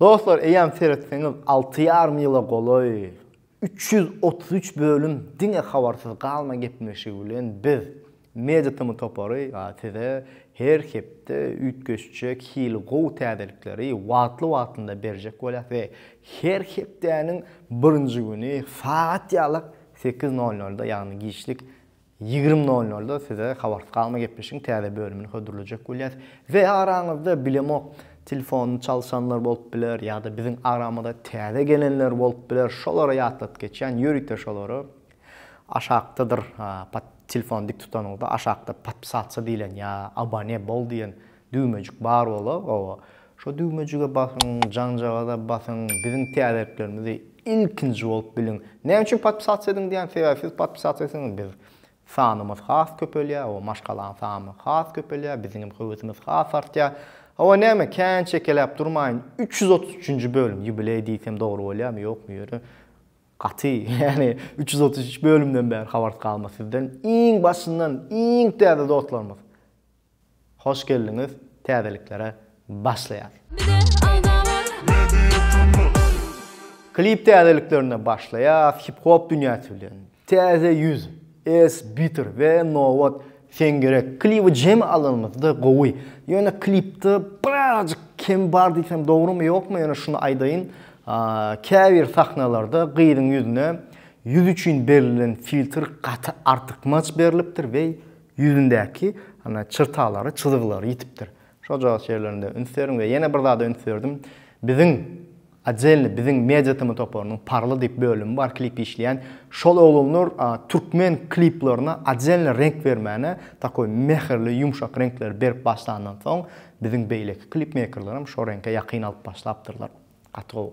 Dostlar eýýäm seretseňiz alty ýarym ýyla golaý üç ýüz otuz üç bölüm diňe habarsyz galma gepleşigi bilen biz Media Tm topary size her hepde üýtgeşjek hili gowy täzelikleri wagtly wagtynda berjek bolýas we her hepdäniň birinji güni sagat ýalak sekiz nol nolda ýagny giçlik Ýigrimi nol nolda size Habarsyz galma gepleşigiň täze bölümini hödürlejek bolýas. We araňyzda bilemok telefonyny çalşanlar bolup biler ýa-da biziň aramyza täze gelenler bolup biler, şolara ýatladyp geçýän, ýörite şolary aşakdadyr pat telefony dik tutanyňyzda aşakda podpisatsa diýlen ýa abone bol diýen düwmejik bar bolar, oba Şo düwmejige basyň jaňjagaza basyň biziň täzeliklerimizi ilkinji bolup biliň näme üçin podpisasiýa ediň diýýän sebäbi siz podpisasiýa etseňiz biz sanymyz has köpelýär hawa maşgalaň samy has köpelýär biziň hem höwesimiz has artýar hawa näme kän çekeläp durmaýyn üç ýüz otuz üçünji bölüm ýubileý diýsem dogry bolýarmy ýokmy ýöne gaty ýani üç ýüz otuz üç bölümden bäri habarsyz galma sizden iň başyndan iň täze dostlarymyz Hoş geldiňiz täzeliklere başlaýas. Klip täzeliklerine başlaýas hip hop dünýäsi bilen Täze ýüz, S bitter we Nobat sen gerek kliby jemi alanymyzda gowy ýöne klipde birazajyk kem bar diýsem dogrymy ýokmy ýöne şuny aýdaýyn käbir sahnalarda gyzyň ýüzüne ýüz üçin berlen filtr gaty artykmaç berlipdir we Ýüzündäki çyrtalary, çyzgylary ýitipdir. Şojagaz şeýerlerinde üns beriň we ýene bir zada üns berdim. Biziň Odelny biziň media tm toparynyň Parly diýip bölümi bar klip işleýän. Şol oglanlar türkmen kliplaryna odelny reňk bermäne takoý mähirli ýumşak reňkleri berip başlandan soň biziň beýleki klipmeýkerlerim şo reňke ýakyn alyp başlapdyrlar. Gaty gowy.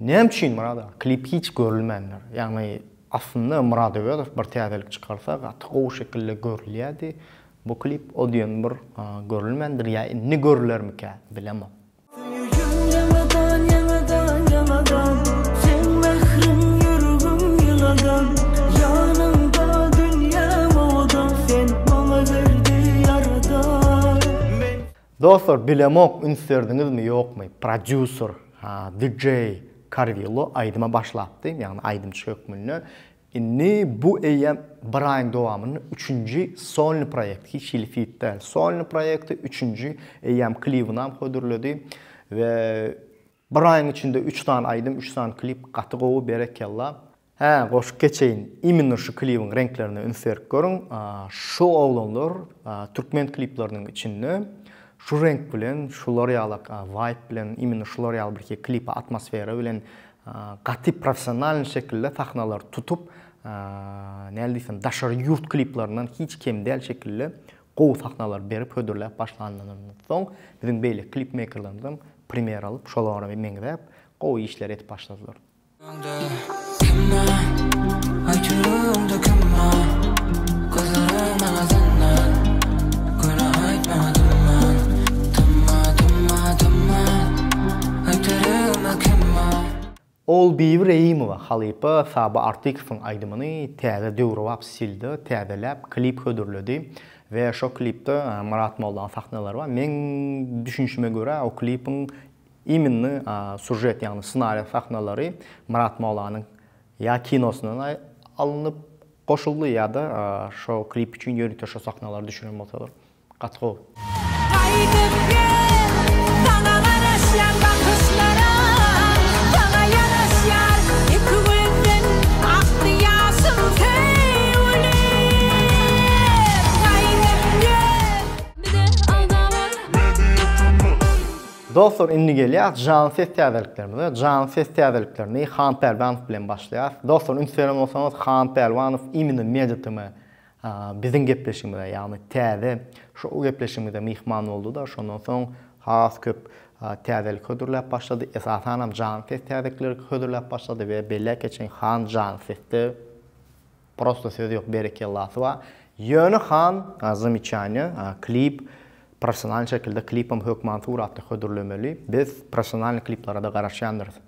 Näme üçin Murad aga klip hiç görülmändir? Ýagny aslynda Murad Öwezow bir täzelik çykarsa gaty gowy şekilde görülýärdi. Bu klip o diýen bir görülmändir ýa indi görülermikä bilemok. Söýeýin ýaňadan ýaňadan ýaňadan Seň mähriň ýüregim ýyladan Ýanyňda dünýäm owadan Sen maňa berdi ýaradan Men. Dostlar bilemok üns berdiňizmi ýokmy prodýuser DJ Karwillo aýdyma başlapdy ýagny aýdymçy hökmünde indi bu eýýäm bir aýyň dowamynda üçünji solny proýekt hiç hili fit däl solny proýekti üçünji eýýäm klibinam hödürledi we bir aýyň içinde üç sany aýdym üç sany klip gaty gowy berekella Hä, goşup geçeýin. Imенно şu klibiň reňklerine üns berip görüň. Şu oglanlar türkmen klipleriniň içinde şu reňk bilen, şular ýalak waýp bilen, imенно şular ýaly birki klipe atmosfera bilen gaty professionalnyý şekilde sahnalary tutup, näle diýsem, daşary ýurt kliplerinden hiç kem däl şekilde gowy sahnalary berip hödürläp başlanyndan soň, biziň beýleki klipmeýkerlerimizem primer alyp, şolara meňzäp, gowy işleri edip başladylar. Ogulbibi Reýimowa halypa Saba Artykowyň aýdymyny täze döwrebap stilde täzeläp klip hödürledi we şo klipde Myrat Mollanyň sahnalary bar. Meň düşünişime görä o klipiň Iminni sužet ýagny ssenariýa sahnalary Myrat Molanyň ýa kinosyndan alnyp goşuldy ýa-da şo klip üçin ýörite şo sahnalary düşüren bolsalar gaty gowy. Gaýdyp gel, saňa garaşýan bakyşlaram, saňa ýaraşýar iki gözden akdy ýaşym söýgülim. Dostlar indi gelýäs janly ses täzeliklerimize. Janly ses täzeliklerini Han Pälwanow bilen başlaýas. Dostlar üns beren bolsaňyz Han Pälwanow imino media tm biziň gepleşigimize ýagny täze şou gepleşigimize myhman bolduda şondan soň has köp täzelik hödürläp başlady esasanam janly ses täzelikleri hödürläp başlady we belläp geçeýin Han janly sesde Prosto söz ýok berekella swa. Ýöne han zamiçanja a klip professionalny şekilde klipem hökman suratda hödürlemeli biz professionalny kliplarada garaşýandyrys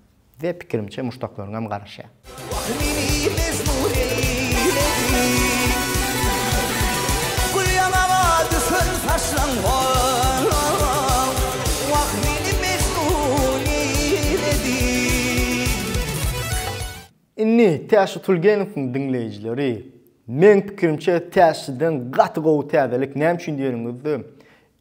we pikirimçe muşdaklaryňam garaşýa. Wah meni mejnun eýledi Gül ýamaga düşen saçlaň halaň Wah meni mejnun eýledi. Indi Täşli Tulgenowyň diňleýjileri meň pikirimçe Täşliden gaty gowy täzelik näme üçin diýeniňizde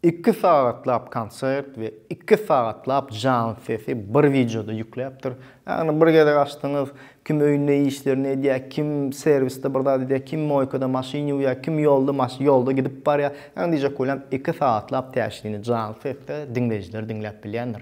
iki sagatlap konsert we iki sagatlap janly sesi bir wideoda ýükläpdir. Ýagny bir gezek açdyňyz kim öýünde işlerini edýär, kim serwisde bir zat edýär, kim moýkada maşyn ýuwýar, kim ýolda maş ýolda gidip barýar. Ýagny diýjek bolýan iki sagatlap Täşlini janly sesde diňleýjiler diňläp bilýändir.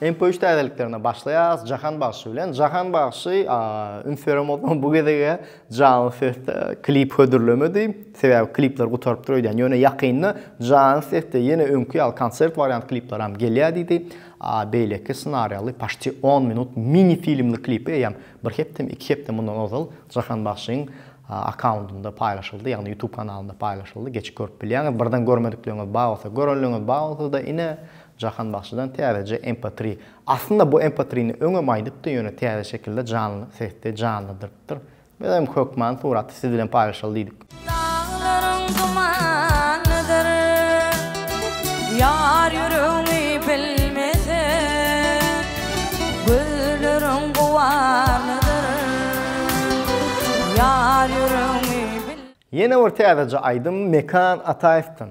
MP3 täzeliklerine başlaýarys Jahan bagşy bilen. Jahan bagşy üns beremozdan bu gezege janly sesde klip hödürlemedi. Sebäbi klipler gutarypdyr öýdýän. Ýöne ýakynda janly sesde ýene öňki ýaly konsert wariant klipler hem gelýär diýdi. Beýleki ssenariýaly paşti 10 minut mini filmli klipi eýýäm bir hepdemi, iki hepde mundan ozal Jahan bagşyň akkauntynda paýlaşyldy, ýagny YouTube kanalynda paýlaşyldy. Geçip görüp bilýäňiz. Birden görmedikleriniz bar bolsa, görenleriniz bar bolsa-da ine Jahan bagşydan täzeje mp3. Aslynda bu mp3-ni öňem aýdypdy ýöne täze şekilde janly sesde janladyrypdyr. Biz hem hökman suraty siz bilen paýlaşaly diýdik. Daglaryň dumanydyr Ýar ýüregiňi bilmese Gözleriň guwanydyr Ýar ýüregiňi bilmese. Ýene bir täzeje aýdym Mekan Ataýewden.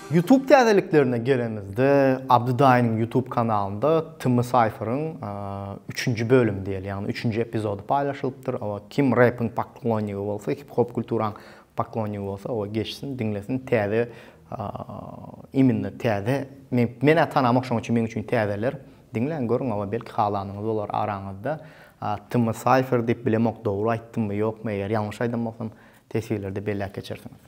Youtube täzeliklerine gelenimizde, Abdy daýynyň Youtube kanalynda Timmy Cypher-yň üçünji bölümi diýeli, ýagny üçünji epizody paýlaşylypdyr. Oba, kim rep-iň poklonnigi bolsa, hip-hop kulturaň poklonnigi bolsa, oba geçsin, diňlesin. Täze, immina täze, men, men-ä tanamok, şonuň üçin meň üçin täzeler. Diňläň, görüň, oba, belki halanyňyz bolar araňyzda. Timmy Cypher diýip bilemok, dogry aýtdymmy, ýokmy, eger ýalňyş aýdan bolsam, teswirlerde belläp geçersiňiz.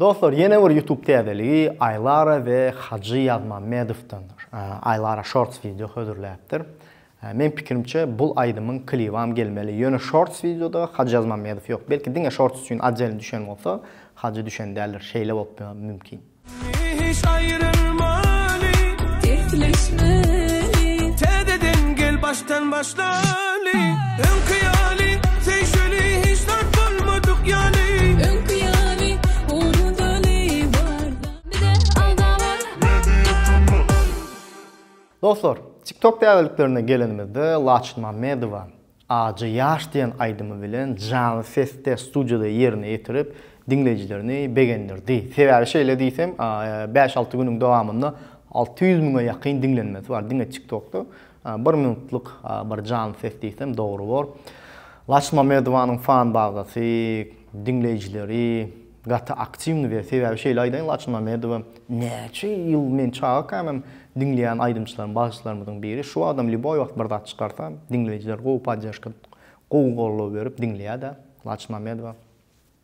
Dostlar ýene bir ýutub täzeligi Aýlara we Hajy Ýazmammedowdandyr. Aýlara shorts wideo hödürläpdir. Meň pikirimçe bul aýdymyň klibam gelmeli. Ýöne shorts wideoda Hajy Ýazmammedow ýok. Belki diňe shorts üçin oddel düşen bolsa, Hajy düşen däldir. Şeýle bolupmyam mümkin. Hiç aýrylmaly, dertleşmeli. Täzeden gel baş. Täzeden başlaly, öňki ýaly, söýşeli hiç zat bolmadyk ýaly. Öňki ýaly, unudaly bar zat. Bize alda bar. Dostlar, TikTok täzeliklerine gelenimizde Laçyn Mamedowa Ajy ýaş diýen aýdymy bilen janly sesde studiýada ýerine ýetirip, diňleýjilerini begendirdi. Sebäbi şeýle diýsem, bäş-alty günüň dowamynda alty ýüz müňe ýakyn diňlenmesi bar diňe TikTokda. Bir minutlyk bir janly ses diýsem dogry bor. Laçyn Mamedowanyň fan bazasy, diňleýjileri gaty aktiwny we sebäbi şeýle aýdaýyn Laçyn Mamedowa näçe ýyl men çagakämem diňleýän aýdymçylarym bagşylarymyzyň biri şu wagtam lýuboý wagt bir zat çykarsa diňleýjiler gowy podderžka gowy goldaw berip diňleýädä Laçyn Mamedowa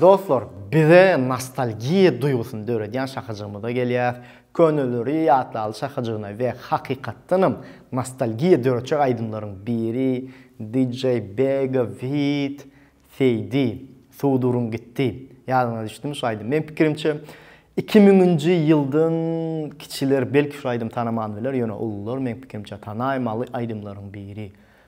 Dostlar bize nostalgiýa duýgusyny döredýän şakajygymyza gelýäs. Köneleri ýatlaly şakajygyna we hakykatdanam nostalgiýa döretjek aýdymlaryň biri DJ Bega feat. Seýdi. Suw durun gitdi. Ýadyňyza düşdimi şu aýdym? Meň pikirimçe iki müňünji ýyldan kiçiler belki şu aýdymy tanaman biler ýöne ulular meň pikirimçe tanaýmaly aýdymlaryň biri.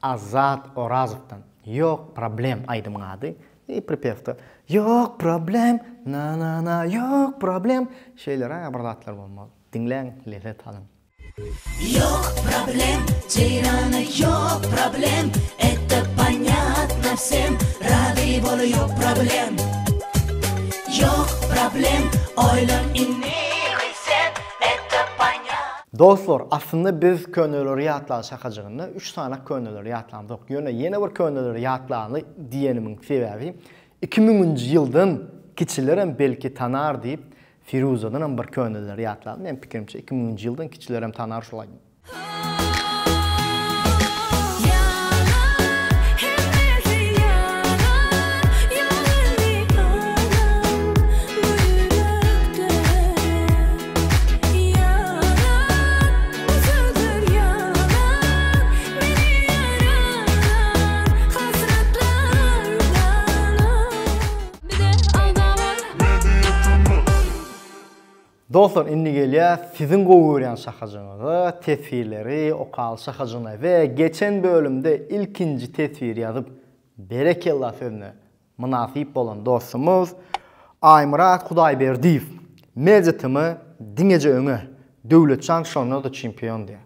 Azat Orazowdan Ýok problem aýdymyň ady i pripewda Ýok problem na na na ýok problem şeýleräge bir zatlar bolmaly. Diňläň lezzet alyň. Ýok problem Jeýrana ýok problem Etda ponyatna wsem rady bol ýok problem Ýok problem Oýlan indi Dostlar aslynda biz köneleri ýatlaly şakajygynda üç sany köneleri ýatlamzok ýöne ýene bir köneleri ýatlaly diýenimiň sebäbi iki müňünji ýyldan kiçilerem belki tanar diýip Firuzadanam bir köneleri ýatlaly meň pikirimçe iki müňünji ýyldan kiçilerem tanar şolaý. Dostlar indi gelýä siziň gowy görýän şahajyňyza teswirleri okaly şahajyna we geçen bölümde ilkinji teswir ýazyp berekella sözüne Mynasyp bolan dostumyz Aýmyrat Hudaýberdiýew, Mejitimi diňeje öňe, Döwletjan şonda-da çempion diýýär.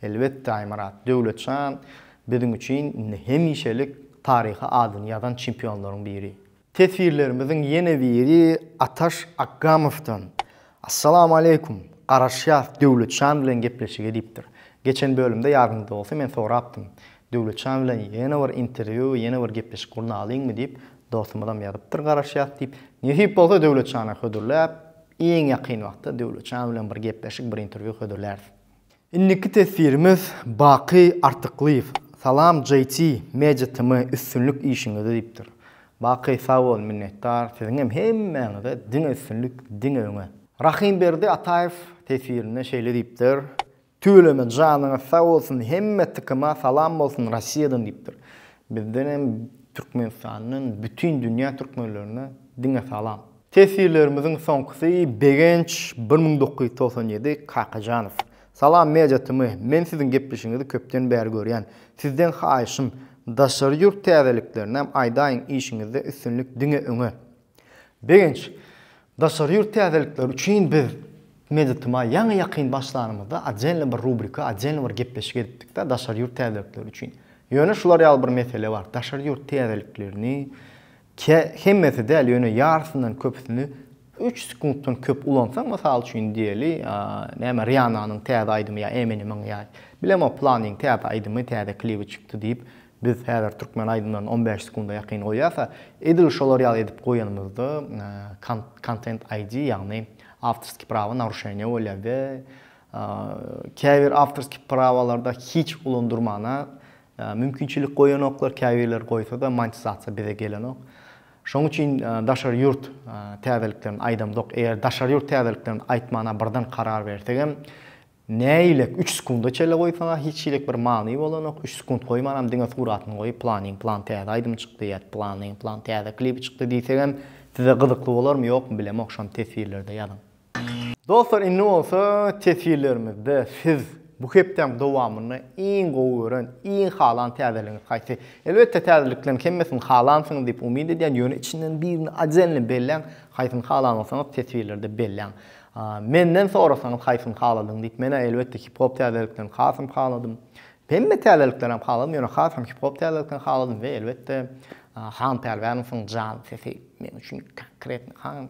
Elbetde Aýmyrat, Döwletjan biziň üçin indi hemişelik taryha adyny ýazan çempionlaryň biri. Teswirlerimiziň ýene biri Ataş Akgamowdan. Assalamu aleykum! Garaşýas Döwletjan bilen gepleşige diýipdir. Geçen bölümde ýadyňyzda bolsa men sorapdym. Döwletjan bilen ýene bir interwýu we ýene bir gepleşik gurnalyňmy diýip, dostumyzam ýazypdyr garaşýas diýip. Nesip bolsa Döwletjana hödürläp, iň ýakyn wagtda Döwletjan bilen bir gepleşik, bir interwýu hödürläris. Indiki teswirimiz Baky Artyklyýew Salam JT Media TM üstünlik işiňizde diýipdir. Baky sag bol minnetdar siziňem hemmäňize diňe üstünlik diňe öňe. Rahymberdi Ataýew teswirinde şeýle diýipdir, Tüweleme janyňyz sag bolsun hemme TKMa salam bolsun Rossiýadan diýipdir. Bizdenem Türkmenistandan bütin dünýä türkmenlerine diňe salam. Teswirlerimiziň soňkusy Begenç bir müň dokuz ýüz togsan ýedi Kakajanow. Salam Media TM, men siziň gepleşigiňizi köpden bäri görýän. Sizden haýyşym, daşary ýurt täzeliklerinem aýdaýyň işiňizde üstünlik diňe öňe. Begenç, daşary ýurt täzelikleri üçin biz Media TM ýaňy ýakyn başlanymyzda oddельny bir rubrika, oddельny bir gepleşik edipdikdä daşary ýurt täzelikleri üçin. Ýöne şular ýaly bir mesele bar, daşary ýurt täzeliklerini Kä, hemmesi däl, ýöne ýarysyndan köpüsini üç sekuntdan köp ulansaň, mysal üçin diýeli, näme, Riananyň täze aýdymy ýa Eminemiň ýa bilemok planyň täze aýdymy, täze klibi çykdy diýip, biz häzir türkmen aýdymlaryny on bäş sekunda ýakyn goýýas-a, edil şolar ýaly edip goýanymyzda Content ID, ýagny awtorskiý prawa naruşeniýa bolýar we käbir awtorskiý prawalarda hiç ulandyrmana Mümkinçilik goýanoklar, käbirleri goýsa-da monetizasiýa bize gelenok. Şoň üçin daşary ýurt täzeliklerini aýdamzok. Eger daşary ýurt täzeliklerini aýtmana birden karar bersegem, näilik üç sekunda çele goýsaň-a hiç hilik bir many bolanok. Üç sekunt goýmanam diňe suratyny goýup planyň plan täze aýdymy çykdy ýa planyň plan täze klibi çykdy diýsegem size gyzykly bolarmy ýokmy bilemok şony teswirlerde ýazyň. Dostlar indi bolsa teswirlerimizde siz bu hepdäň dowamynda iň gowy gören, iň halan täzeligiňiz haýsy? Elbetde täzelikleriň hemmesini halansyňyz diýip umyt edýän, ýöne içinden birini ajelini belläň, haýsyny halan bolsaňyz teswirlerde belläň. Menden sorasaňyz haýsyny haladyň diýip menä elbetde hip hop täzeliklerini hasam haladym. Hemme täzelikleri hem haladym, ýöne hasam hip hop täzeliklerini haladym we elbetde Han Pälwänowyň jan sesi men üçin konkretno han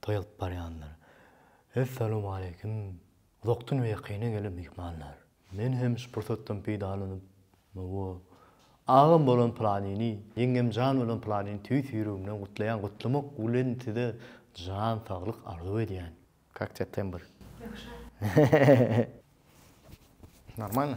toý alyp barýanlar. Essalowmaleýkim, uzakdan we ýakyndan gelen myhmanlar! Men hem şu pursatdan peýdalanyp, Hawa, agam bolan Pylanini, ýeňňemjan bolan Pylanini tüýs ýüregimden gutlaýan, gutlamak bilen size jan saglyk arzuw edýän. Kak septembr? Ýagşy. Normalno.